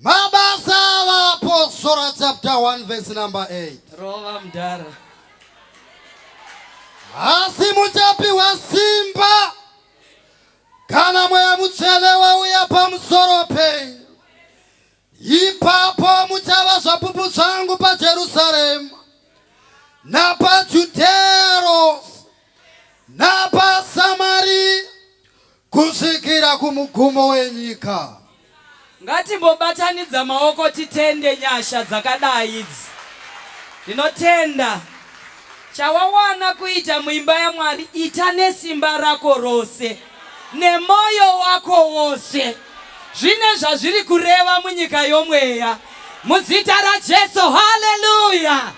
Mabasa apostora chapter 1 verse number 8. Rova mdara. Asi muchapiwa simba kana mweya mutsvene wauya pamusoro penyu. Ipapo muchava zvapupu zvangu paJerusarema napaJudhea rose napaSamaria Kusvikira kumugumo wenyika. Ngatimbobatanidza maoko titende nyasha dzakadai idzi. Ndinotenda chawawana kuita muimba yaMwari ita nesimba rako rose nemoyo wako wose zvine zvazviri kureva munyika yomweya muzita raJesu haleluya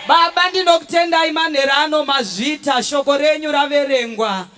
Baba ndinokutendai manhero ano mazvita shoko renyu raverengwa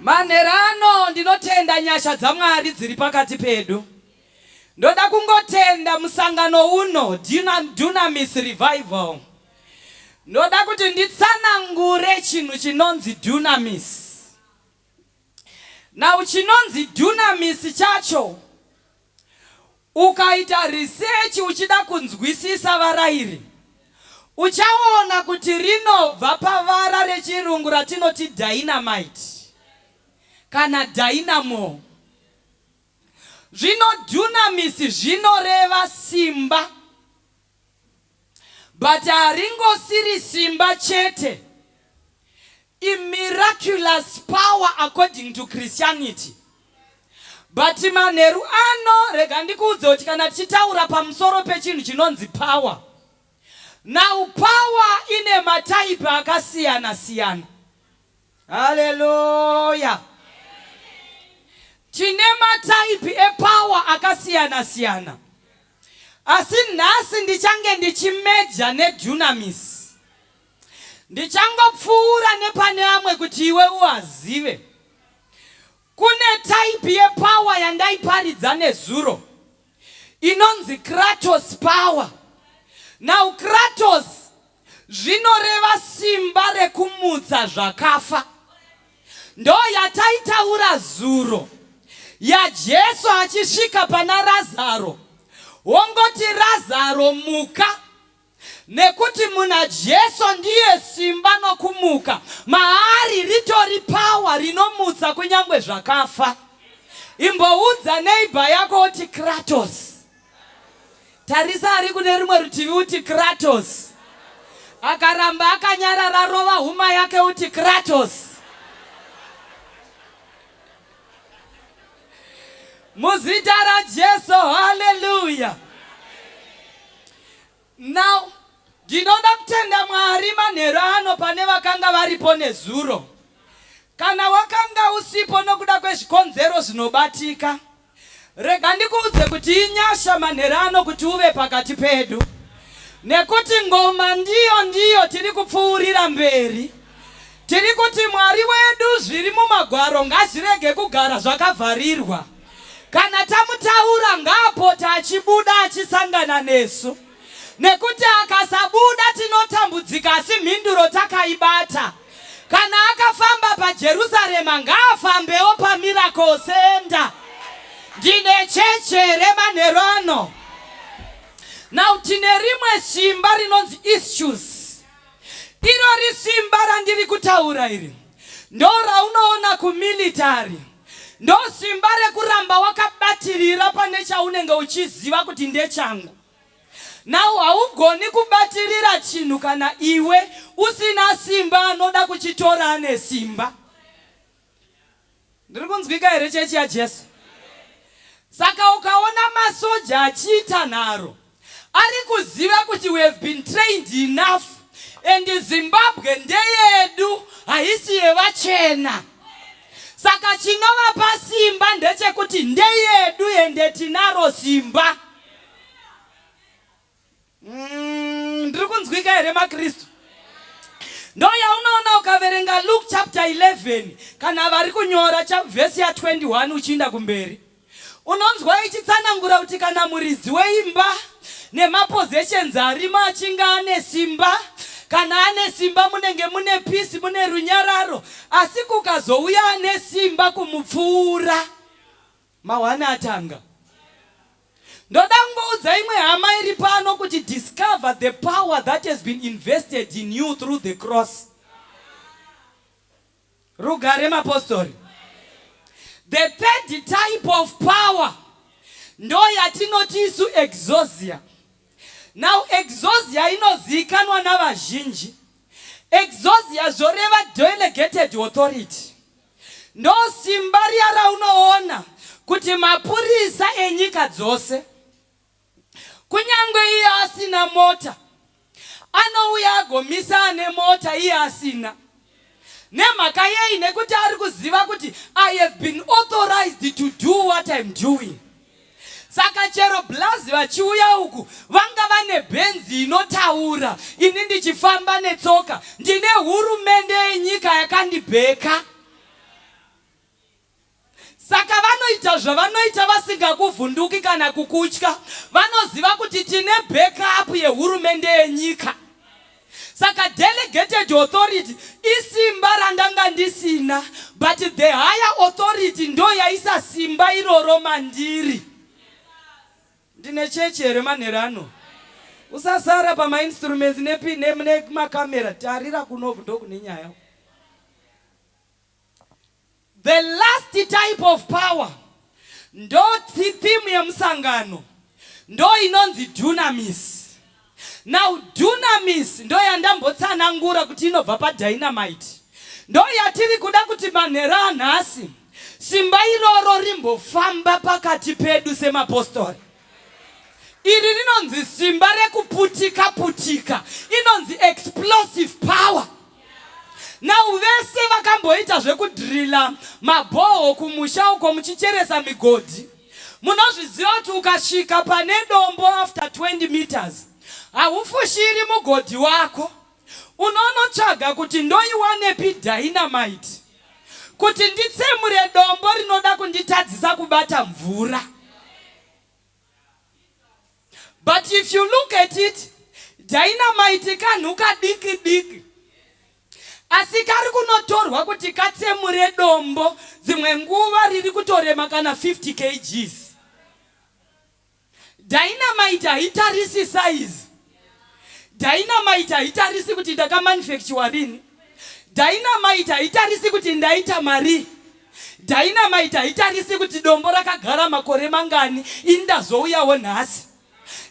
Manhero ano ndinotenda nyasha dzaMwari dziri pakati pedu. Ndoda kungotenda musangano uno Dunamis Revival. Ndoda kuti nditsanangure chinhu chinonzi Dunamis. Now chinonzi Dunamis chacho Ukaita risechi uchida kunzwisisa vara iri, uchaona kuti rinobva pavara reChirungu ratinoti dynamite kana dynamo. Zvino dunamis zvinoreva simba. But haringosiri simba chete. I miraculous power according to Christianity. But manheru ano rega ndikuudze kuti kana tichitaura pamusoro pechinhu chinonzi power. Now power ine mataipi akasiyana siyana. Hallelujah. Tine mataipi epower akasiyana siyana. Asi nhasi ndichange ndichimeja neDunamis. Ndichangopfuura nepane amwe kuti iwe uazive. Kune type yepower yandaiparidza nezuro inonzi Kratos power. Now Kratos zvinoreva simba rekumutsa zvakafa. Ndo yataitaura zuro yaJesu achisvika pana Razaro wongoti Razaro muka nekuti muna Jesu ndiye simba nokumuka maari ritori power rinomutsa kunyangwe zvakafa. Imboudza neighbor yako oti Kratos. Tarisa ari kune rumwe rutivi uti Kratos. Akaramba akanyarara rova huma yake uti Kratos. Muzita raJesu, haleluya. Now ndinoda kutenda Mwari manheru ano pane vakanga varipo nezuro. Kana wakanga usipo nokuda kwezvikonzero zvinobatika, Rega ndikuudze kuti inyasha manhera ano kuti uve pakati pedu nekuti ngoma ndiyo ndiyo tiri kupfuurira mberi. Tiri kuti Mwari wedu zviri mumagwaro ngazvirege kugara zvakavharirwa. Kana tamutaura ngaapote achibuda achisangana nesu. Nekuti akasabuda tinotambudzika asi mhinduro takaibata. Kana akafamba paJerusarema ngaafambewo paMiracle Center. Ndine chechi here manheru ano? Now tine rimwe simba rinonzi issues. Irori simba randiri kutaura iri ndo raunoona kumilitary ndo simba rekuramba wakabatirira pane chaunenge uchiziva kuti ndechangu Now haugoni kubatirira chinhu kana iwe usina simba anoda kuchitora ane simba. Ndiri kunzwika here chechi yaJesu? Saka ukaona masoja achiita nharo ari kuziva kuti we have been trained enough and Zimbabwe ndeyedu haisi yevachena. Saka chinovapa simba ndechekuti ndeyedu ende tinaro simba. Mm, ndiri kunzwika here makristu ndo yaunoona ukaverenga luke chapter 11 kana vari kunyora vhesi ya 21 uchiinda kumberi unonzwa ichitsanangura kuti kana muridzi weimba nemapositions arimo achinge ane simba kana ane simba munenge mune pisi mune runyararo asi kukazouya ane simba kumupfuura Mawana atanga. Ndoda kungoudza imwe hama iri pano kuti discover the power that has been invested in you through the cross. Rugare mapostori. The third type of power ndo yatinoti isu exosia. Now exosia inoziikanwa navazhinji. Exosia zvoreva delegated authority. Ndosimba riya raunoona kuti mapurisa enyika dzose kunyange iye asina mota anouya agomisa ane mota iye asina nemhaka yei nekuti ari kuziva kuti i have been authorized to do what im doing Saka chero blaz vachiuya uku vanga vane benzi inotaura ini ndichifamba netsoka ndine hurumende yenyika yakandibheka saka vanoita zvavanoita vasingakuvhunduki kana kukutya vanoziva kuti tine backup yehurumende yenyika Saka delegated authority isimba randanga ndisina but the higher authority ndoyaisa simba iroro mandiri. Ndine chechi here manhero ano? Usasara pamainstruments nemakamera, tarira kunoku ndokune nyaya. The last type of power ndo theme yemusangano ndo inonzi dunamis. Now dunamis ndo yandambotsanangura kuti inobva padynamite. Ndo yatiri kuda kuti manheru anhasi simba iroro rimbofamba pakati pedu semapostori. Iri rinonzi simba rekuputika putika, inonzi explosive power. Now vese vakamboita zvekudrilla mabhoho kumusha uko muchicheresa migodhi munozviziva kuti ukasvika pane dombo after 20 meters haufushiri mugodhi wako unonotsvaga kuti ndoiwanepi dynamite kuti nditsemure dombo rinoda kunditadzisa kubata mvura but if you look at it dynamite kanhu kadiki diki asi kari kunotorwa kuti katsemure dombo dzimwe nguva riri kutorema kana 50 kgs Dynamite haitarisi size. Dynamite haitarisi kuti ndakamanufacture rini. Dynamite haitarisi kuti ndaita marii. Dynamite haitarisi kuti dombo rakagara makore mangani ini ndazouyawo nhasi.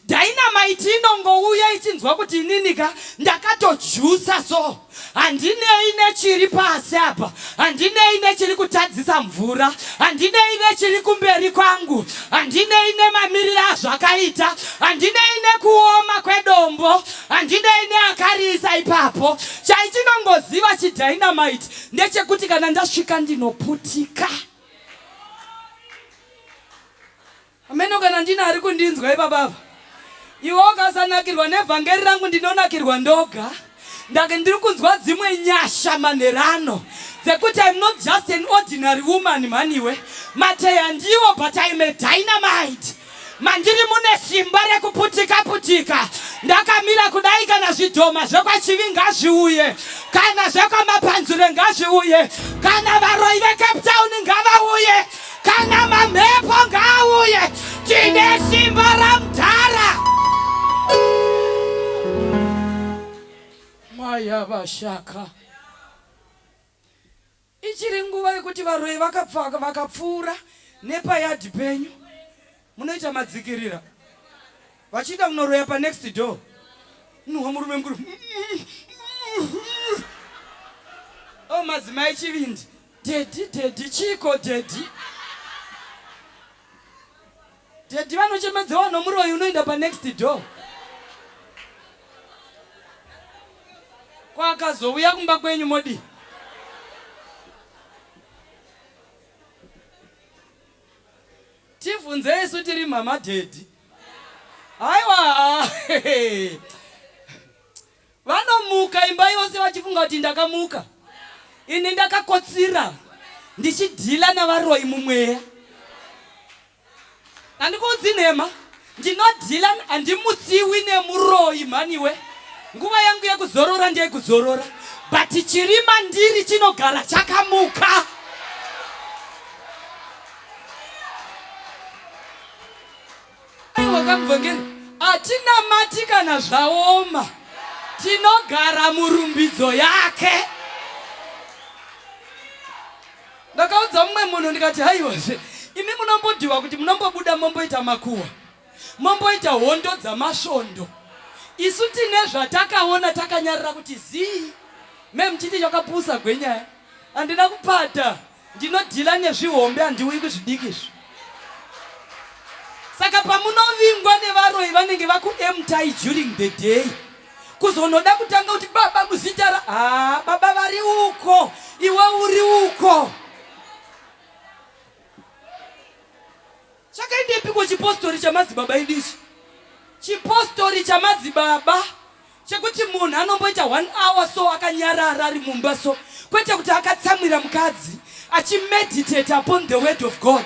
Dynamite inongouya ichinzwa kuti inini ka ndakatojusa so. handinei nechiri pasi apa handinei nechiri kutadzisa mvura handinei nechiri kumberi kwangu handinei nemamiriro azvakaita handinei nekuoma kwedombo handinei neakariisa ipapo chaichinongoziva chidynamite ndechekuti kana ndasvika ndinoputika Hameno kana ndine ari kundinzwa ipapa apa. Iwe ukasanakirwa nevhangeri rangu ndinonakirwa ndoga. Ndake ndiri kunzwa dzimwe nyasha manherano dzekuti I'm not just an ordinary woman mhaniwe. Mateya ndiwo but I'm a dynamite. Mandiri mune simba rekuputika putika. Ndakamira kudai kana zvidhoma zvekwachivi ngazviuye. Kana zvekwamapanzure ngazviuye. Kana varoyi veCape Town ngavauye. Kana mamhepo ngaauye, tine simba ramdhara. Maya vashaka. Ichiri nguva yekuti varoyi vakapfuura nepayadhi penyu. Munoita madzikirira. Vachiita kunoroya pa next door. Nhuwa murume mukuru. Oh madzimai chivindi. Daddy, daddy, chiko daddy. Daddy vanochemedzewa nomuroyi unoenda pa next door. Kwakazouya kumba kwenyu modi. Tivhunze isu tiri mhama dhedhi. Haiwa vanomuka imba yose vachifunga kuti ndakamuka. Ini ndakakotsira ndichidhila navaroyi mumweya. Handikuudzi nhema. Ndino Dillan handimutsiwi nemuroyi mhaniwe. Nguva yangu yekuzorora ndeyekuzorora but chiri mandiri chinogara chakamuka. Aiwa kamuvhangeri hatinamati kana zvaoma tinogara murumbidzo yake. Ndakaudza mumwe munhu ndikati haiwazve imi munombodiwa kuti munombobuda momboita makuwa momboita hondo dzamasvondo isu tine zvatakaona takanyarira kuti zii me muchiti chakapusa gwenyaya handina kupata ndinodhila nezvihombe handiuyi kuzvidiki izvi saka pamunovingwa nevaroyi vanenge vakuemtai during the day kuzonoda kutanga kuti baba muzita ra ah, baba vari uko iwe uri uko chakaendepiko chipostori chamadzibaba idi ichi chipostori chamadzibaba chekuti munhu anomboita one hour so akanyarara ari mumba so kwete kuti akatsamwira mukadzi achimeditate upon the word of god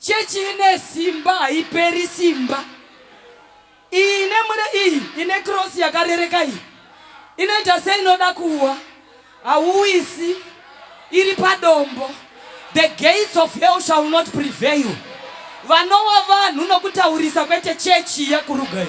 Chechi ine simba haiperi simba. Iyi ine mure iyi ine cross yakarereka iyi. Inoita seinoda kuwa. Hauwisi. Iri padombo. The gates of hell shall not prevail. Vanowa vanhu nokutaurisa kwete chechi yakurugai.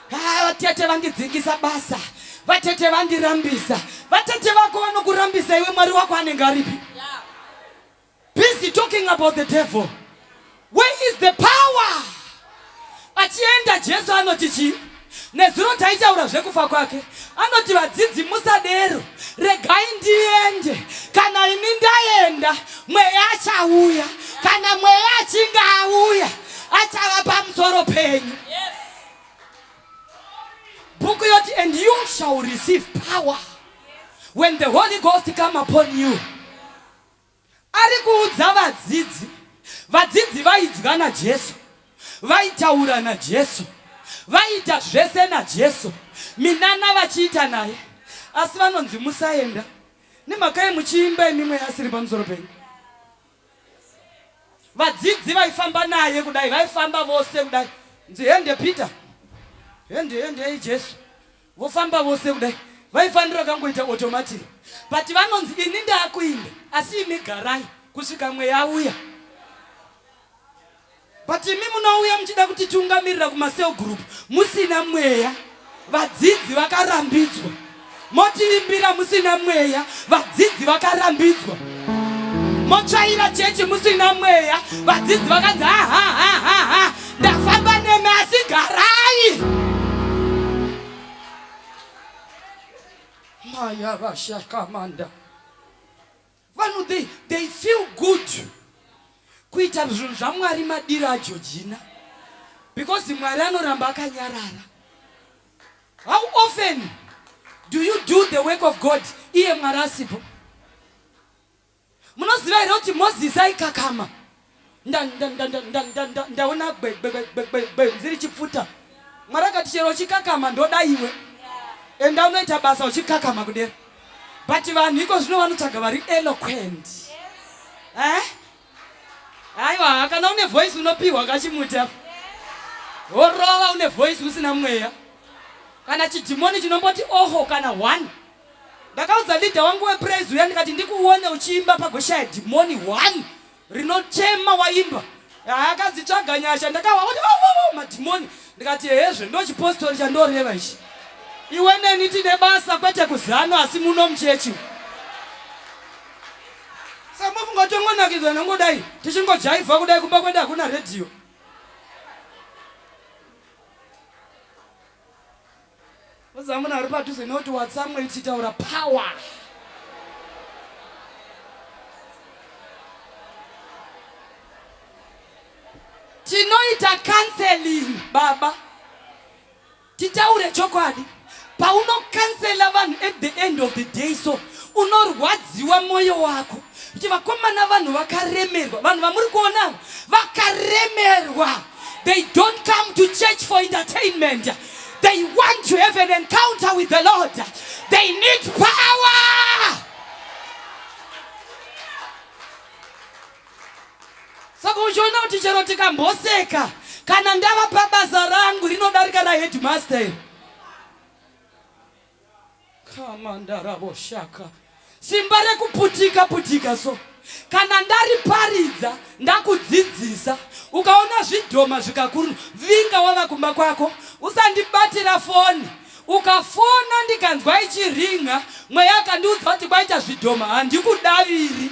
Haa vatete vandidzingisa basa vatete vandirambisa vatete vako vanokurambisa iwe mwari wako anenge aripi busy talking about the devil where is the power achienda jesu anoti chii nezuro taitaura zvekufa kwake anoti vadzidzi musadero regai ndiende kana ini ndaenda mweya achauya kana mweya achinge auya achava pamusoro penyu yes. bhuku yoti and you shall receive power when the holy ghost come upon you ari kuudza vadzidzi vadzidzi vaidya najesu vaitaura najesu vaiita zvese najesu minana vachiita naye asi vanonzi musaenda nemhaka yemuchiimba imimwe asiri pamusoro penyu Vadzidzi vaifamba naye kudai, vaifamba vose kudai. Nzi hende Peter. Hende hende hey Jesu. Vofamba vose kudai. Vaifanira kangoita automatic. But vanonzi ini ndakuinda asi imi garai kusvika mweya uya. But imi munouya muchida kutitungamirira kumasel group musina mweya. Vadzidzi vakarambidzwa. Motivimbira musina mweya. Vadzidzi vakarambidzwa. Motsvaira chechi musina mweya. Vadzidzi vakanzi ha ha ha ha ha. Ndafamba nemi asi garai. Maya vashakamanda. Vanhu they, they feel good kuita zvinhu zvaMwari madiro aJojina because Mwari anoramba akanyarara. How often do you do the work of God iye Mwari asipo? Munoziva here kuti Mozisi aikakama ndaona gwenzi richipfuta mwari akati chero uchikakama ndoda iwe enda unoita basa uchikakama kudera but vanhu iko zvino vanotsvaga vari eloquent eh? aiwa kana une voice unopiwa kachimuti apa worova une voice usina mweya kana chidhimoni chinomboti oho kana one ndakaudza leader wangu wepraise uya ndikati ndikuone uchiimba pagoshaya dhimoni one rinochema waimba akadzitsvaga nyasha ndakawa kuti oh, madhimoni ndikati hezve ndochipostori chandoreva ichi iwe neni tine basa kwete kuzano asi muno muchechi samofunga tongonakidzwa nongodai tichingojaivha kudai kumba kwenda hakuna redhiyo Uza munhu ari padhuze not watsamwe ichitaura power. Tinoita counseling baba. Titaure chokwadi. Paunokansela vanhu at the end of the day so unorwadziwa moyo wako. kuti vakomana vanhu vakaremerwa vanhu vamuri kuona vakaremerwa they don't come to church for entertainment they want to have an encounter with the lord they need power saka uchiona kuti chero tikamboseka kana ndava pabasa rangu rinodarika raheadmaster kamandaravoshaka simba rekuputika putika so kana ndariparidza ndakudzidzisa ukaona zvidhoma zvikakuruna vinga wava kumba kwako usandibatira foni ukafona ndikanzwa ichiringa mweya akandiudza kuti kwaita zvidhoma handikudaviri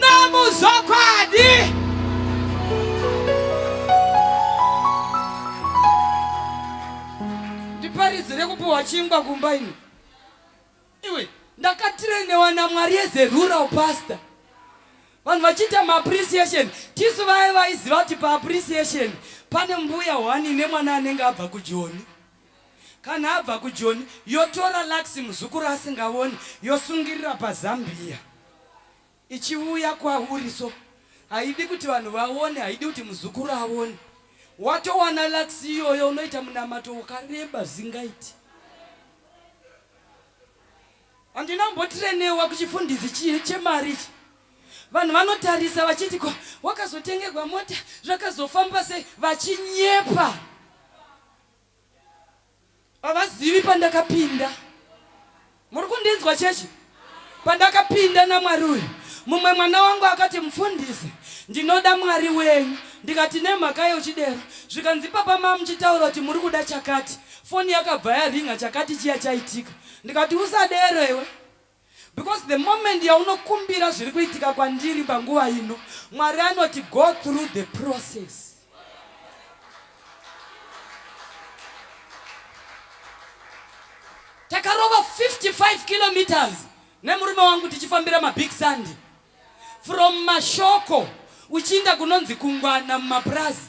Nomuzokwadi. Ndiparidzire kupiwa chingwa kumba ini. Iwe ndakatirenewa naMwari yezerura upastor vanhu vachiita maappreciation tisu vaye vaiziva kuti paappreciation pane mbuya hwani nemwana anenge abva kujoni Kana abva kujoni yotora lux muzukuru asingavoni yosungirira pazambiya ichiuya kwauri so haidi kuti vanhu vaone haidi kuti muzukuru aone watowana lux iyoyo unoita munamato wakareba zingaiti handina mbotrenewa kuchifundisi chii chemari ichi vanhu vanotarisa vachiti ko wakazotengerwa mota zvakazofamba sei vachinyepa Havazivi pandakapinda. Muri kundinzwa chechi? Pandakapinda namwari uyu, mumwe mwana wangu akati, Mufundisi, ndinoda mwari wenyu. Ndikati, Nemhaka yochidero. Zvikanzi, Ipapa mava muchitaura kuti muri kuda chakati. Foni yakabva yaringa, chakati chiya chaitika. Ndikati, Usadero iwe. Because the moment yaunokumbira zviri kuitika kwandiri panguva ino, Mwari anoti go through the process. Takarova 55 kilometers nemurume wangu tichifambira mabig sand from mashoko uchiinda kunonzi kungwana mumapurazi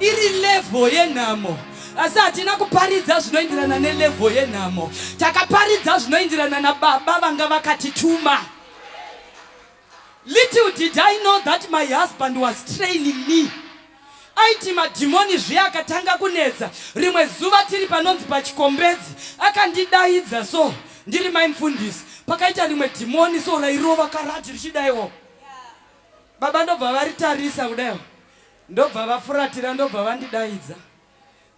iri levho yenhamo asi hatina kuparidza zvinoenderana nelevho yenhamo takaparidza zvinoenderana nababa vanga vakatituma little did i know that my husband was training me aiti madhimoni zviya akatanga kunetsa rimwe zuva tiri panonzi pachikombedzi akandidaidza so ndiri mai mfundisi pakaita rimwe dhimoni so rairova karati richidaiwo baba ndobva varitarisa kudaiwo Ndobva vafuratira ndobva vandidaidza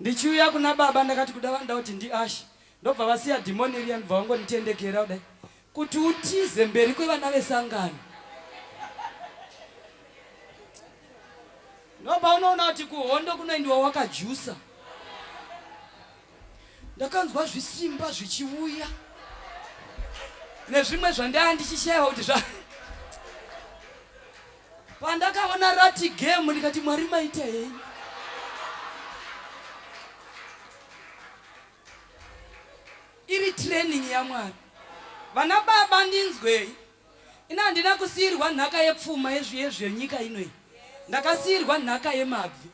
ndichiuya kuna baba ndakati kuda vanoda kuti ndiashe ndobva vasiya dhimoni riya ndobva vangonditendekera kudai kuti utize mberi kwevana vesangano ndobva unoona kuti kuhondo kunoendiwa wakajusa ndakanzwa zvisimba zvichiuya nezvimwe zvandaya ndichishaiwa kuti zva Pandakaona rati game ndikati Mwari maita hei. Iri training yaMwari. Vana baba ndinzwei. Ina handina kusiirwa nhaka yepfuma yezviye zvenyika inoi. Ndakasiirwa nhaka yemabvi.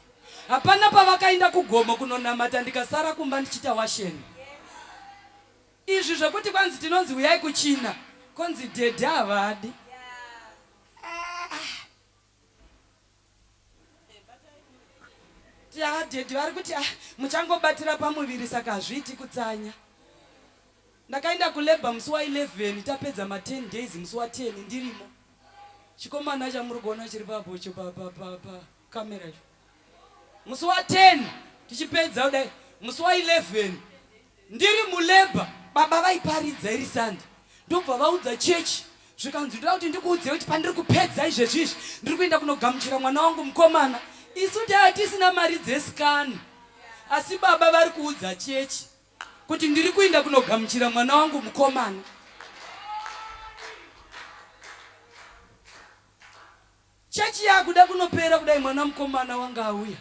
Hapana pavakaenda kugomo kunonamata ndikasara kumba ndichita washeni. Izvi zvekuti kwanzi tinonzi huyai kuchina konzi dhedhe havadi. Daddy vari kuti ah, muchangobatira pamuviri saka hazviiti kutsanya. Ndakaenda kulabor musi wa 11 tapedza ma 10 days musi wa 10 ndirimo. Chikomana chamuri kuona chiri papo cho pa pa pa pa camera cho. musi wa 10 tichipedza kudai musi wa 11 ndiri mulabor baba vaiparidza iri sande ndobva vaudza chechi zvikanzi ndoda kuti ndikuudzire kuti pandiri kupedza izvezvi izvi ndiri kuenda kunogamuchira mwana wangu mukomana isu tava tisina mari dzesikani asi baba vari kuudza chechi kuti ndiri kuenda kunogamuchira mwana wangu mukomana Church yakuda kunopera kudai mwana mukomana wanga auya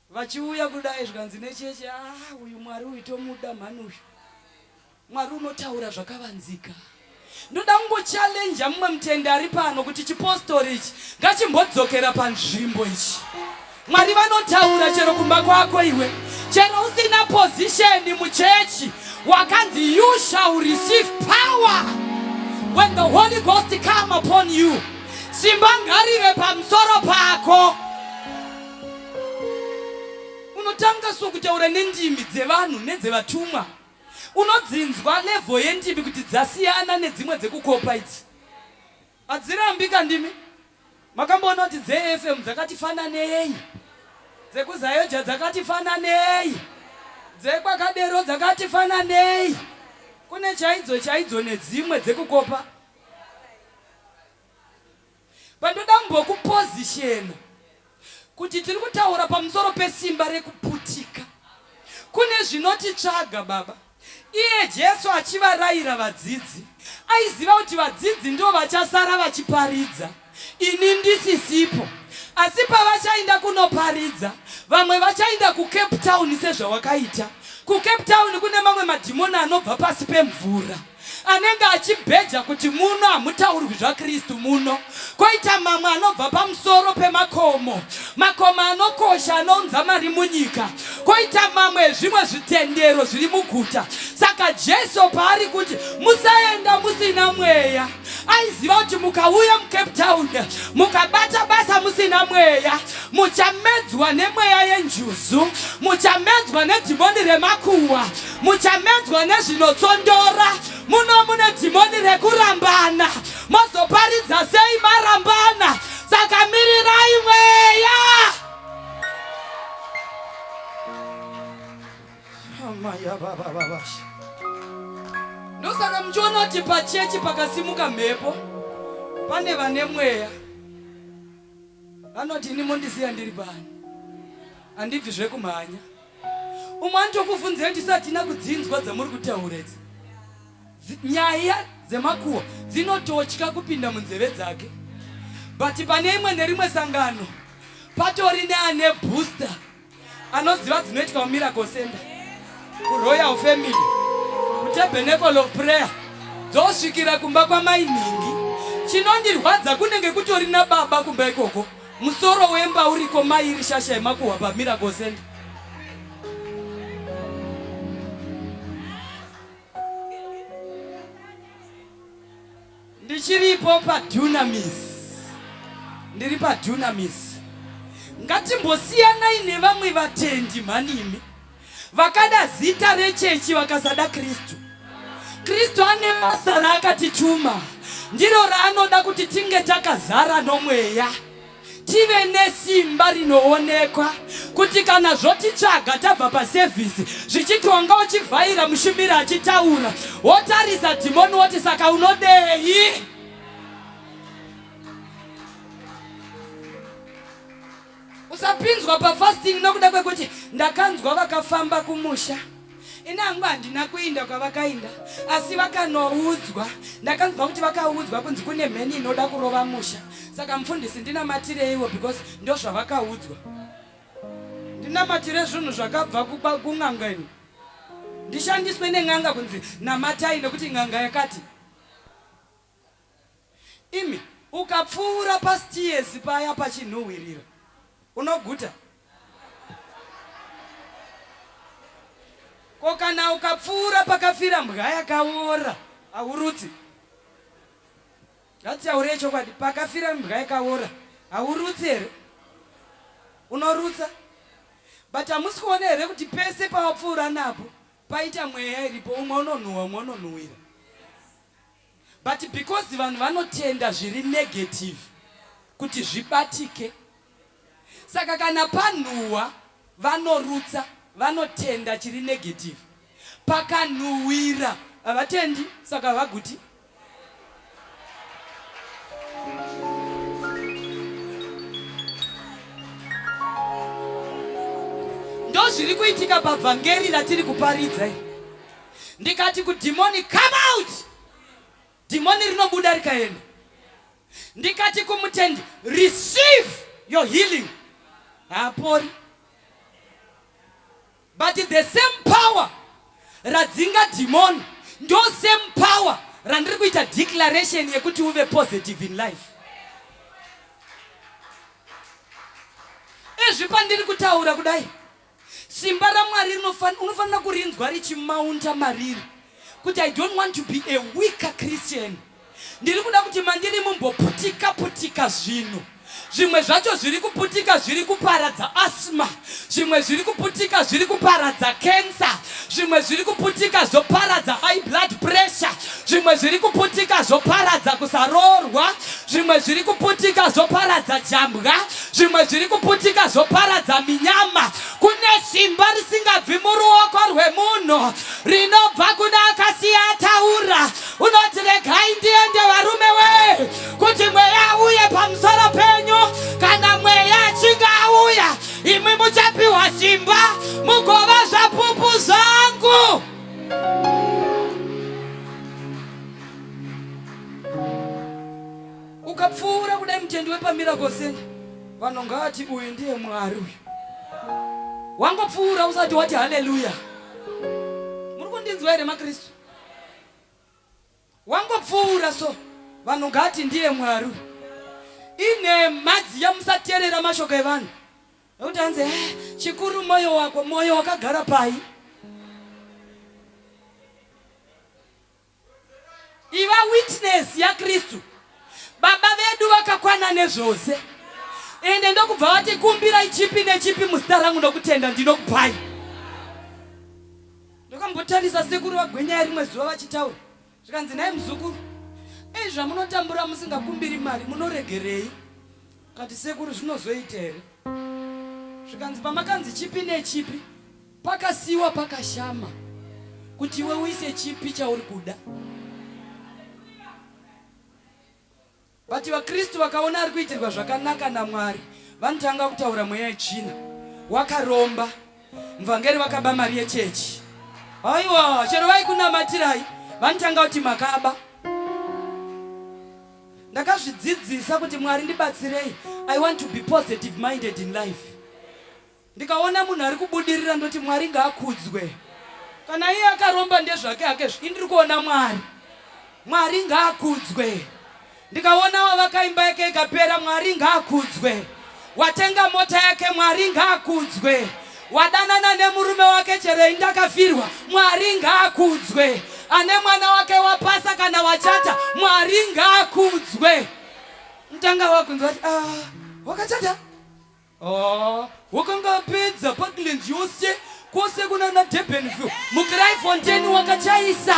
vachiuya kudai zvikanzi necheche ah uyu mwari uyu tomuda mhani uyu mwari unotaura zvakavanzika ndoda kungochallenja mumwe mutende ari pano kuti chipostori ichi ngachimbodzokera panzvimbo ichi Mwari vanotaura chero kumba kwako iwe. Chero usina position muchechi wakanzi you shall receive power when the Holy Ghost come upon you. Simba ngarive pamusoro pako. Unotanga so kutaura nendimi dzevanhu nedzevatumwa. Unodzinzwa level yendimi kuti dzasiyana nedzimwe dzekukopa idzi. Hadzirambika ndimi makamboona kuti dzeFM dzakati fananei, dzekuZayoja dzakati fananei, dzekwakadero dzakati fananei, kune chaidzo chaidzo nedzimwe dzekukopa. Pandoda mbokuposition. Kuti tiri kutaura pamusoro pesimba rekuputika kune zvinotitsvaga, Baba. Iye Jesu achivarayira vadzidzi, aiziva kuti vadzidzi ndivo vachasara vachiparidza, ini ndisisipo. Asi pavachainda kunoparidza, vamwe vachainda kuCape Town sezvawakaita. KuCape Town kune mamwe madhimoni anobva pasi pemvura. anenge achibheja kuti muno hamutaurwi zvaKristu muno koita mamwe anobva pamusoro pemakomo makomo anokosha anounza mari munyika koita mamwe ezvimwe zvitendero zviri muguta saka Jesu paari kuti musaenda musina mweya aiziva kuti mukauya mucape town mukabata basa musina mweya muchamedzwa nemweya yenjuzu muchamedzwa nedhimoni remakuwa muchamedzwa nezvinotsondora muno mune dhimoni rekurambana mozoparidza sei marambana saka mirirai mweya ndosaka muchiona kuti pachechi pakasimuka mhepo pane vane mweya vanoti ini mondisiya ndiri pano handibvi zvekumhanya umwe anotokuvhunzira kuti satina kudzinzwa dzamuri kutaura idzi nyaya dzemakuwa dzinototya kupinda munzeve dzake but pane imwe nerimwe sangano patori neane booster anoziva dzinoitwa mumiracle center kuroyal family kutabernacle of prayer dzosvikira kumba kwamainhingi chinondirwadza kunenge kutori nababa kumba ikoko Musoro wemba uriko mai iri shasha yemakuhwa pa Miracle Center. Ndichiripo pa Dunamis. Ndiri pa Dunamis. Ngatimbosiyanai nevamwe vatendi mhanimi. Vakada zita rechechi vakasada Kristu. Kristu ane basa raakatituma, ndiro raanoda kuti tinge takazara nomweya, tive nesimba rinoonekwa, kuti kana zvotitsvaga tabva pasevhisi zvichiti wanga uchivhaira mushumiri achitaura, wotarisa dhimoni woti saka unodei? Usapinzwa pafasting nokuda kwekuti ndakanzwa vakafamba kumusha. Ini hangu handina kuinda kwavakainda asi vakanoudzwa. Ndakanzwa kuti vakaudzwa kunzi kune mheni inoda kurova musha. Saka mufundisi ndinamatireiwo because ndozvavakaudzwa. Ndinamatire zvinhu zvakabva kuba kun'anga ini. Ndishandiswe nen'anga kunzi namatai nekuti n'anga yakati. Imi, ukapfuura pastiyezi paya pachinhuhwirira, unoguta. Ko kana ukapfuura pakafira mbwa yakaora, haurutsi. Ngatitaurei chokwadi, pakafira mbwa yakaora, haurutsi here? Unorutsa. But hamusi kuona here kuti pese pawapfuura napo, paita mweya iripo, umwe unonhuhwa, umwe unonhuhwira. but because vanhu vanotenda zviri negative kuti zvibatike saka kana panhuhwa vanorutsa vanotenda chiri negative pakanhuhwira havatendi saka vaguti ndozviri kuitika pabvangeri ratiri kuparidza ndikati kudhimoni come out dhimoni rinobuda rikaenda ndikati kumutendi receive your healing haapori but the same power radzinga dhimoni ndo same power randiri kuita declaration yekuti uve positive in life ezvi pandiri kutaura kudai Simba raMwari unofanira kurinzwa richimaunta mariri kuti I don't want to be a weaker Christian. Ndiri kuda kuti mandiri mumboputika putika zvinhu zvimwe zvacho zviri kuputika zviri kuparadza asma zvimwe zviri kuputika zviri kuparadza kensa zvimwe zviri kuputika zvoparadza high blood pressure zvimwe zviri kuputika zvoparadza kusaroorwa zvimwe zviri kuputika zvoparadza jambwa zvimwe zviri kuputika zvoparadza minyama kune simba risingabvi muruoko rwemunhu rinobva kune akasiya ataura unoti regai ndiende varume wee kuti mweya uye pamusoro penyu kana mweya achinge auya imwi muchapiwa simba mugova zvapupu zvangu ukapfuura kudai mutendi wepamiracle center vanhu ngavati uyu ndiye mwari uyu wangopfuura usati wati haleluya muri kundinzwa here makristu Wangopfuura so vanhu ngati ndiye mwaru inhemha dziya musaterera mashoko evanhu nokuti hanzi eh, chikuru moyo wako moyo wakagara pai iva witness yakristu baba vedu vakakwana nezvose ende ndokubva vati kumbirai chipi nechipi muzita rangu nokutenda ndinokupai Ndokambotarisa sekuru vaGwenyaya rimwe zuva vachitaura zvikanzi, nhai muzukuru, ei zvamunotambura musingakumbiri mari munoregerei? Kati sekuru zvinozoita here? Zvikanzi pamakanzi chipi nechipi pakasiiwa pakashama kuti iwe uise chipi chauri kuda. But vaKristu vakaona ari kuitirwa zvakanaka naMwari vanotanga kutaura mweya yetsvina. Wakaromba. Muvhangeri vakaba mari yechechi. Haiwa, chero vaikunamatirai vanotanga kuti makaba. Ndakazvidzidzisa kuti Mwari ndibatsirei. I want to be positive minded in life. Ndikaona munhu ari kubudirira ndoti Mwari ngaakudzwe. Kana iye akaromba ndezvake hake zvi indiri kuona Mwari. Mwari ngaakudzwe. Ndikaona wavaka imba yake ikapera Mwari ngaakudzwe. Watenga mota yake Mwari ngaakudzwe. Wadanana nemurume wake chero indakafirwa Mwari ngaakudzwe. Ane mwana wake wapasa kana wachata Mwari ngaakudzwe. Mtanga wakunzwa kuti ah wakachata Haa wakanga apedza Parklands yose kwose kunana Durbanville muCryfontein wakachaisa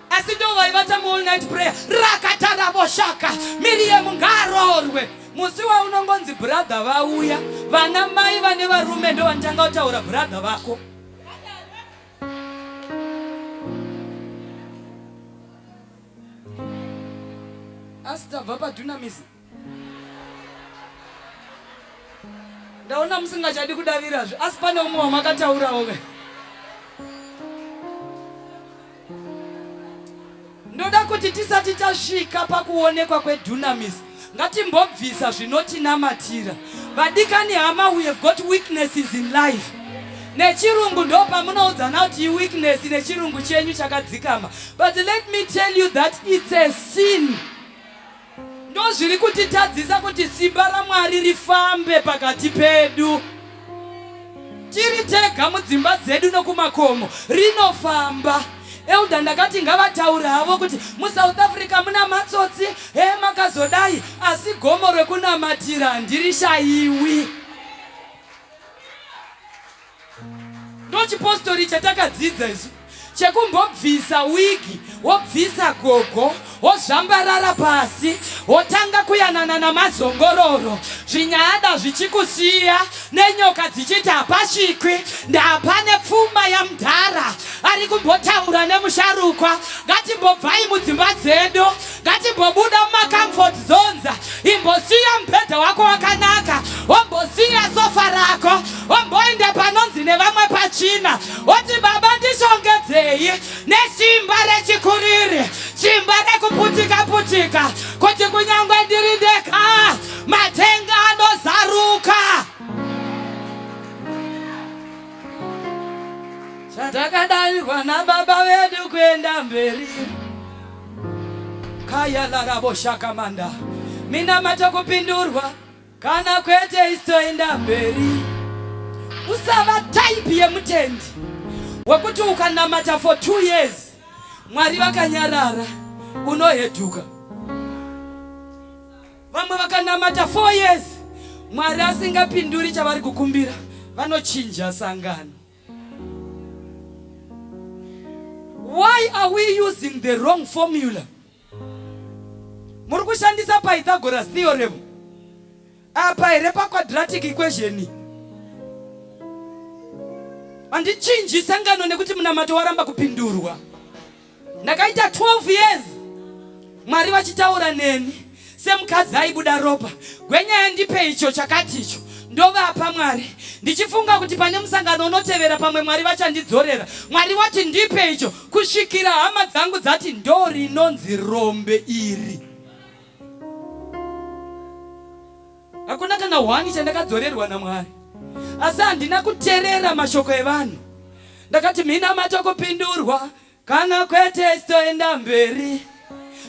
asi ndo vaivata muall night prayer rakata ravoshaka Miriam ngaroorwe musi waunongonzi brother vauya vana mai vane varume ndo vanotanga kutaura brother vako asi tabva padunamizi ndaona musingachadi kudavirazve asi pane umwe wamakataurawo ve ndoda kuti tisati tasvika pakuonekwa kwedunamis ngatimbobvisa zvinotinamatira vadikani hama we have got weaknesses in life nechirungu ndo pamunoudzana kuti iweakness nechirungu chenyu chakadzikama but let me tell you that it's a sin Ndozviri kutitadzisa kuti simba raMwari rifambe pakati pedu. Tiri tega mudzimba dzedu nokumakomo, rinofamba. Elder ndakati ngavataure havo kuti muSouth Africa muna matsotsi, he makazodai, asi gomo rekunamatira handirishaiwi. ndochipostori chatakadziidza isu chekumbobvisa wigi wobvisa gogo wozvambarara pasi wotanga kuyanana namazongororo zvinyada zvichikusiya nenyoka dzichiti hapasvikwi ndapane pfuma yamudhara ari kumbotaura nemusharukwa ngatimbobvai mudzimba dzedu ngatimbobuda mumacomfort zones imbosiya mubhedha wako wakanaka wombosiya sofa rako womboenda panonzi nevamwe pachina woti baba ndishongedzei nesimba rechikuriri simba rekuputika putika kuti kunyange ndiri ndeka matenga anozaruka zvatakadavigwa nababa vedu kuenda mberi Kaya larabo shakamanda minamato kupindurwa kana kwete istoenda mberi usava type yemutendi wekuti ukanamata for two years mwari vakanyarara unoheduka vamwe vakanamata four years mwari asingapinduri chavari kukumbira vanochinja sangano Why are we using the wrong formula? Muri kushandisa Pythagoras theorem apa here pa quadratic equation? Handichinji sangano nekuti munamato waramba kupindurwa. Ndakaita 12 years Mwari vachitaura neni semukadzi aibuda ropa. Gwenya yandipe icho chakati icho ndovapa Mwari ndichifunga kuti pane musangano unotevera pamwe Mwari vachandidzorera. Mwari wati ndipe icho kusvikira hama dzangu dzati ndo rinonzi rombe iri. Hakuna kana one chandakadzorerwa naMwari, asi handina kuterera mashoko evanhu. Ndakati minamato kupindurwa kana kwete sitoenda mberi.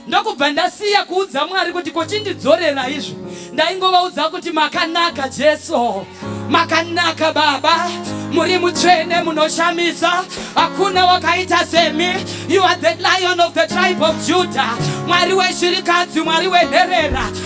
Ndokubva ndasiya kuudza Mwari kuti kochindidzorera izvo. Ndaingovaudza kuti makanaka Jesu, makanaka Baba, muri mutsvene, munoshamisa, hakuna wakaita semi. You are the lion of the tribe of Judah, Mwari weshirikadzi, Mwari wenherera.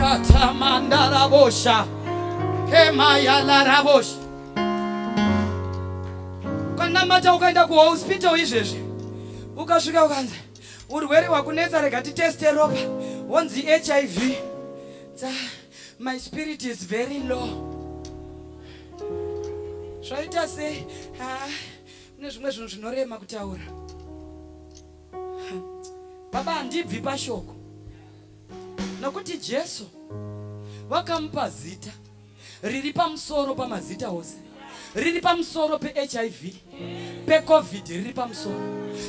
Katamandarabosha. Kemayalarabosha. Ukanamata ukaenda kuhospital izvezvi. Ukasvika ukanzi urwere hwakunetsa rega titeste ropa. Wonzi HIV. Tsa, My spirit is very low. Zvaita sei? Ah, mune zvimwe zvinhu zvinorema kutaura. Baba handibvi pashoko nokuti Jesu vakamupa zita riri pamusoro pamazita ose, riri pamusoro peHIV, peCovid riri pamusoro.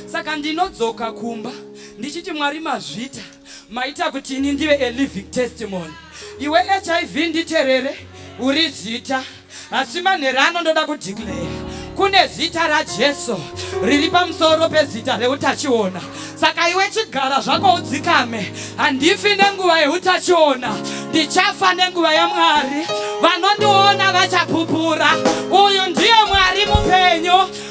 Saka ndinodzoka kumba ndichiti Mwari mazvita. maita kuti ini ndive a living testimony iwe hiv nditerere uri zita asi manhero ano ndoda kudeclare kune zita rajesu riri pamusoro pezita reutachiona saka iwe chigara zvako udzikame handifi nenguva yeutachiona ndichafa nenguva yamwari vanondiona vachapupura uyu ndiye mwari mupenyu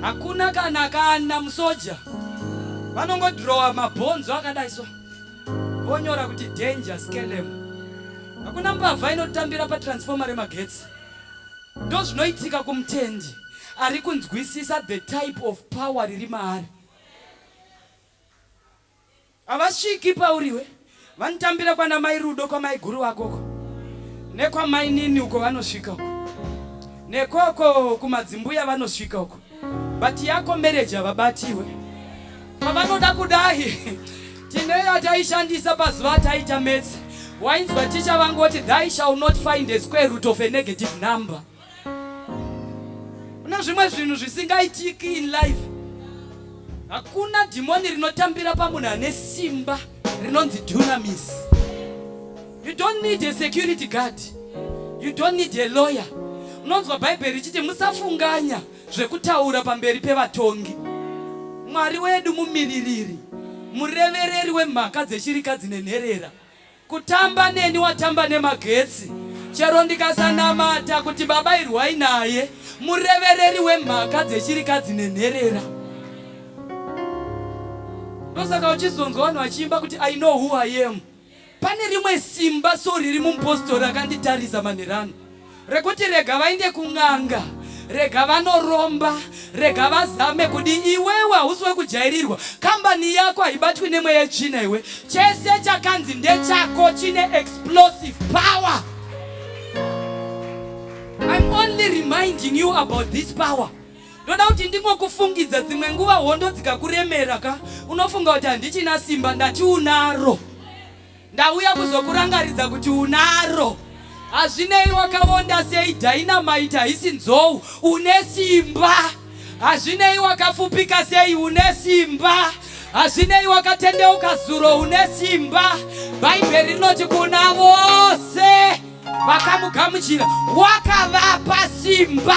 hakuna kana kana musoja vanongodhirowa mabhonzo akadai so vonyora kuti danger skelem hakuna mbavha inotambira patransfoma remagetsi ndo zvinoitika kumutendi ari kunzwisisa the type of power riri maari Havasviki pauriwe vanotambira kwana mai rudo kwamai guru vako uko nekwamainini uko vanosvika uko nekoko kumadzimbuya vanosvika uko but yako mereji havabatiwe pavanoda kudai tine yataishandisa pazuva ataita metsi wainzwa ticha vangoti thy shall not find a square root of a negative number Kuna zvimwe zvinhu zvisingaitiki in life. Hakuna dhimoni rinotambira pamunhu ane simba rinonzi dunamis. You don't need a security guard. You don't need a lawyer. Unonzwa Bhaibheri richiti musafunganya zvekutaura pamberi pevatongi. Mwari wedu mumiririri, murevereri wemhaka dzeshirika dzine nherera. Kutamba neni watamba nemagetsi. Chero ndikasanamata kuti baba irwai naye murevereri wemhaka dzechirikadzi nenherera. Ndosaka uchizonzwa vanhu vachiimba kuti I know who I am. Pane rimwe simba so riri mumupostori akanditarisa manherano. rekuti rega vainde kun'anga rega vanoromba rega vazame kudi iwewe hausi wekujairirwa kambani yako haibatwi nemweya yetsvina iwe chese chakanzi ndechako chine explosive power im only reminding you about this power ndoda kuti ndingokufungidza dzimwe nguva hondo dzikakuremera ka unofunga kuti handichina simba ndatiunaro Ndauya kuzokurangaridza kuti unaro. Hazvinei wakavonda sei dynamite haisi nzou. Une simba. Hazvinei wakafupika sei une simba. Hazvinei wakatendeuka zuro une simba. Bhaibheri rinoti kuna vose vakamugamuchira wakavapa simba.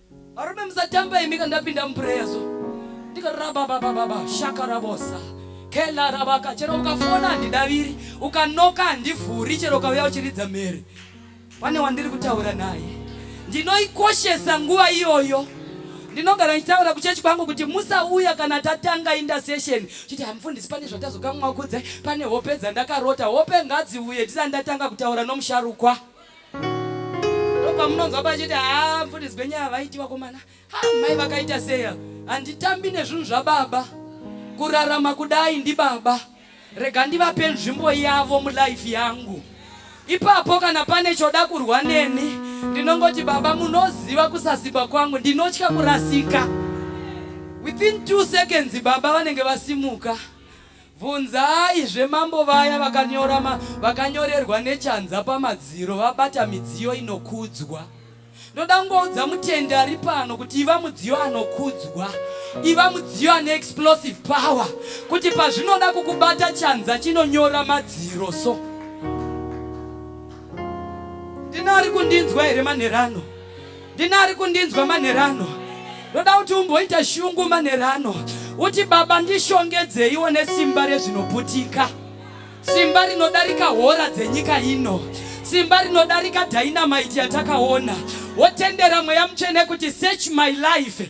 Varume musatamba imi kandapinda muprayer so. Ndikaraba baba baba shaka rabosa. Kela rabaka chero ukafona handidaviri ukanoka handivhuri chero ukauya uchiridza mhere. Pane wandiri kutaura naye. Ndinoikoshesa nguva iyoyo. Ndinogara ndichitaura kuchechi kwangu kuti musauya kana tatanga inda session. Chiti hamufundisi pane zvatazokamwa kudze pane hope dzandakarota. Hope ngadziuye ndisati ndatanga kutaura nomusharukwa. ndopamunonzwa pachiti haa mfuti dzigwenye havaiti vakomana ha mai vakaita seya handitambi nezvinhu zvababa kurarama kudai ndibaba rega ndivape nzvimbo yavo mulife yangu ipapo kana pane choda kurwa neni ndinongoti baba munoziva kusaziba kwangu ndinotya kurasika within two seconds baba vanenge vasimuka Bvunzai zve mambo vaya vakanyora ma, vakanyorerwa nechanza pamadziro vabata midziyo inokudzwa. Ndoda kungoudza mutendi ari pano kuti iva mudziyo anokudzwa, iva mudziyo ane explosive power, kuti pazvinoda kukubata chanza chinonyora madziro so. Ndina ari kundinzwa here manherano? Ndini ari kundinzwa manhero ano. Ndoda kuti umboita shungu manhero ano. Uti baba ndishongedzeiwo nesimba rezvinoputika. Simba rinodarika hora dzenyika ino. Simba rinodarika dynamite yatakaona. Wotendera mweya mutsvene kuti search my life.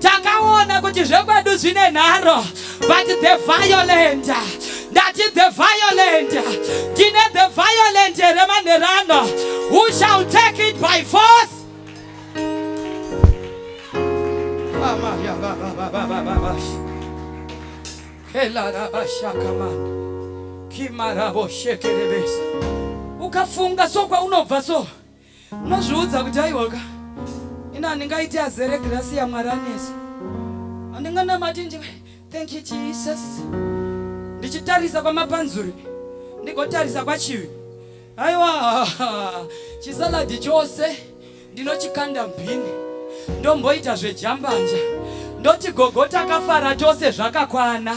takaona kuti zvekwedu zvine nharo but the violent ndati the violent tine the violent here manherano who shall take it by force ukafunga so kwaunobva so unozviudza kuti aiwaka ini handingaiti azere grasi yamwari anesu handinganamati ndi thank you jesus ndichitarisa kwamapanzuri ndigotarisa kwachivi aiwa chisaladi chose ndinochikanda mbini ndomboita zvejambanja ndoti gogo takafara tose zvakakwana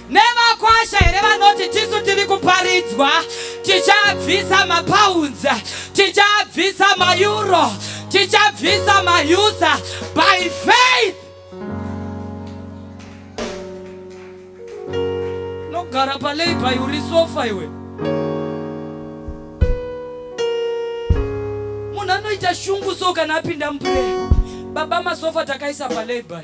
Nevakwasha here vanoti tisu tiri kuparidzwa tichabvisa mapounds tichabvisa maeuro tichabvisa mausa by faith nogara palabor uri sofa iwe munhu anoita shungu so kana apinda muprayer baba masofa takaisa palabor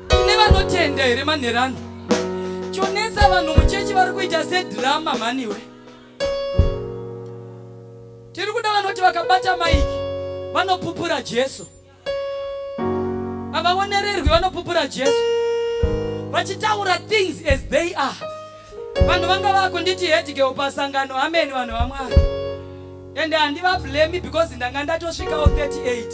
Kune vanotenda here manherano? Chonetsa vanhu muchechi vari kuita sedhirama mhaniwe. Tiri kuda vanoti vakabata maiki vanopupura Jesu. Havaonererwi vanopupura Jesu. Vachitaura things as they are. Vanhu vanga vakunditi headgirl pasangano amen vanhu vaMwari. And handivablemi because ndanga ndatosvikawo 38.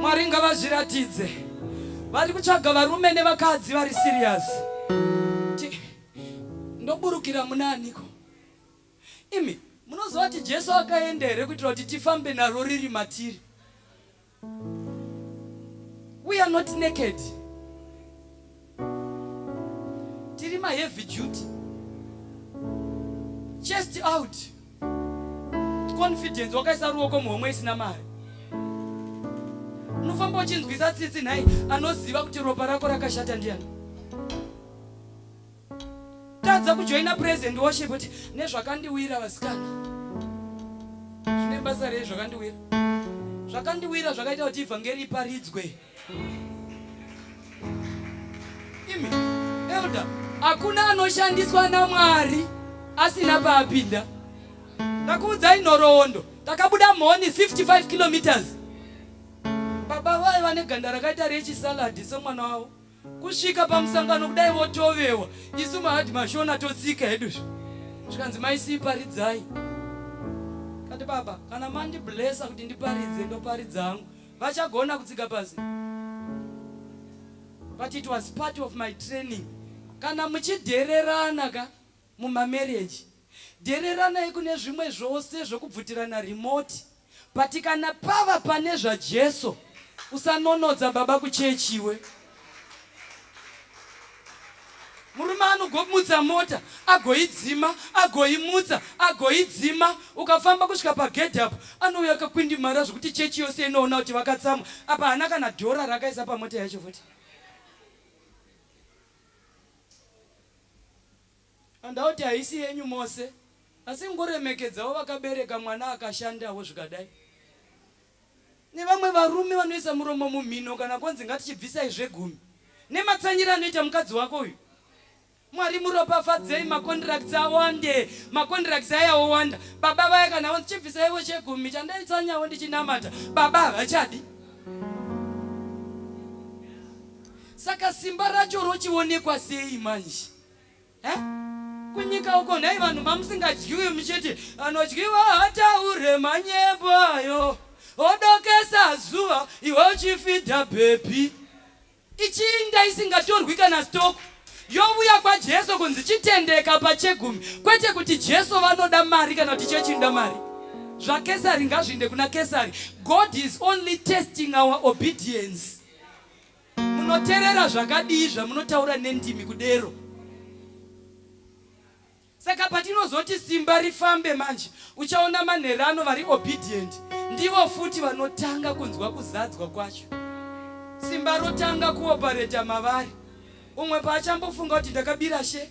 Mwari ngavazviratidze. Vari kutsvaga varume nevakadzi vari serious. Ndoburukira muna aniko? Imi munoziva kuti Jesu akaenda here kuitira kuti tifambe naro riri matiri? We are not naked. tiri ma heavy duty chest out confidence wakaisa ruoko muhomwe isina mari unofamba uchinzwisa tsitsi nhai anoziva kuti ropa rako rakashata ndiyani tadza kujoina present worship kuti nezvakandiwira vasikana zvine basa rei zvakandiwira zvakandiwira zvakaita kuti ivhangeri iparidzwe Imi, elder, hakuna anoshandiswa naMwari asina paapinda. Ndakuudzai nhoroondo, takabuda mhoni 55 kilometers. Baba vaye vane ganda rakaita rechisaladi semwana wavo. Kusvika pamusangano kudai votovewa, isu mahadhi mashona totsika hedu zvo. Zvikanzi maisii paridzai. Kati baba, kana mandiblesa kuti ndiparidze, ndoparidza hangu. Vachagona kutsiga pasi. But it was part of my training. Kana muchidhererana ka mumamarriage, dhereranai kune zvimwe zvose zvokubvutirana remote. But kana pava pane zvaJesu, usanonodza baba kuchechi iwe. murume anogomutsa mota agoidzima agoimutsa agoidzima ukafamba kusvika pagedhi apo anouya akakwindimara zvekuti chechi yose inoona kuti vakatsamwa apa haana kana dhora rakaisa pamota yacho futi andauti haisi yenyu mose asi ngoremekedzawo vakabereka mwana akashandawo zvikadai nevamwe varume vanoisa muromo mumhino kana kwanzi ngatichibvisai zvegumi nematsanyira anoita mukadzi wako uyu mwari muropafadzei macontracts awande macontracts aya owanda baba vaya kana vanzi chibvisaivo chegumi chandaitsanyawo ndichinamata baba havachadi saka simba racho rochionekwa sei manje Eh? Kunyika uko nhai vanhu mamusingadyiwe muchiti anodyiwa hataure manyembo ayo odokesa zuva iwe uchifidha bhebhi ichinda isingatorwi kana stoku yovuya kwajesu kunzi chitendeka pachegumi kwete kuti jesu vanoda mari kana kuti chechinda mari zvakesari ngazviinde kuna kesari god is only testing our obedience munoterera zvakadii zvamunotaura nendimi kudero saka patinozoti simba rifambe manje uchaona manherano vari obedient ndivo futi vanotanga kunzwa kuzadzwa kwacho simba rotanga kuopareta mavari umwe paachambofunga kuti ndakabira she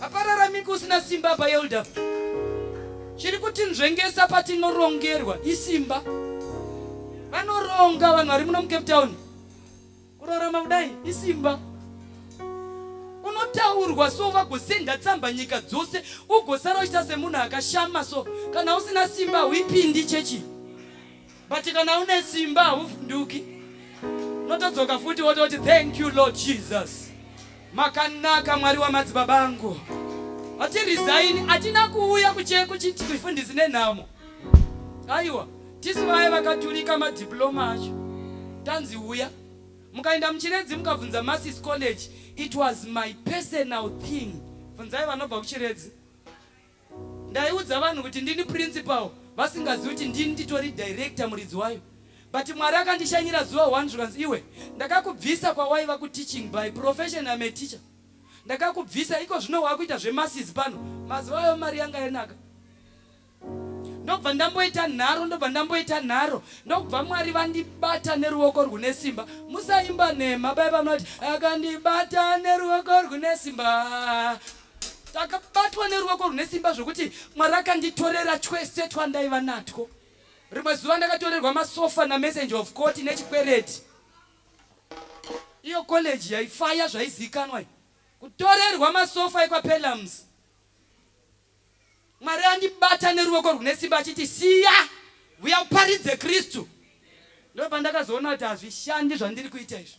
Apararamiki usina simba apa elder. Chiri kuti nzvengesa patinorongerwa isimba. Vanoronga vanhu vari muno muCape Town. Kurarama kudai isimba. Unotaurwa so vagosenda tsamba nyika dzose ugosara uchita semunhu akashama so kana usina simba huipindi chechi. But kana une simba hauvhunduki. Unotodzoka futi wototi thank you Lord Jesus. Makanaka Mwari wamadzibaba angu. Ati resign atina kuuya kucheko chiti kufundisi nenhamo. Aiwa, tisu vaye vakaturika madiploma acho. Tanzi uya. Mukaenda muchiredzi mukabvunza Masis College, it was my personal thing. Bvunzai vanobva kuchiredzi. Ndaiudza vanhu kuti ndini principal vasingazivi kuti ndini nditori director muridzi wayo but Mwari akandishanyira zuva one zvikanzi iwe ndakakubvisa kwawaiva kuteaching by profession I'm a teacher ndakakubvisa iko zvino wakuita zvemasizi pano mazuva ayo mari yanga yanaka ndobva ndamboita nharo ndobva ndamboita nharo ndokubva mwari vandibata neruoko rwune simba musaimba nhema bai vanoti akandibata neruoko rwune simba ndakabatwa neruoko rune simba zvokuti mwari akanditorera twese twandaiva natwo rimwe zuva ndakatorerwa masofa namessenger of court nechikwereti iyo college yaifaya zvaizikanwa kutorerwa masofa ekwapelams mwari andibata neruoko rune simba achiti siya vuya uparidze kristu ndo pandakazoona kuti hazvishandi zvandiri kuita izvi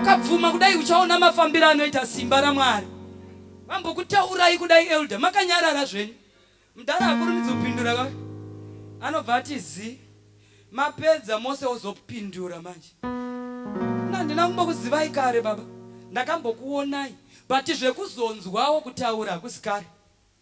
ukabvuma kudai uchaona mafambiro anoita simba ramwari vambokutaurai kudai elder makanyarara zvenyu mudhara akurumidzi kupindura ka anobva ati zi mapedza mose ozopindura manje nandina kumbokuzivai kare baba ndakambokuonai but zvekuzonzwawo kutaura hakusi kare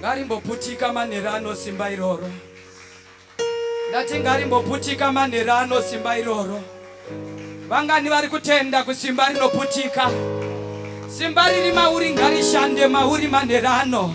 ngarimboputika manhero ano simba iroro ndati ngarimboputika manhero ano simba iroro vangani vari kutenda kusimba rinoputika simba riri mauri ngarishande mauri manhero ano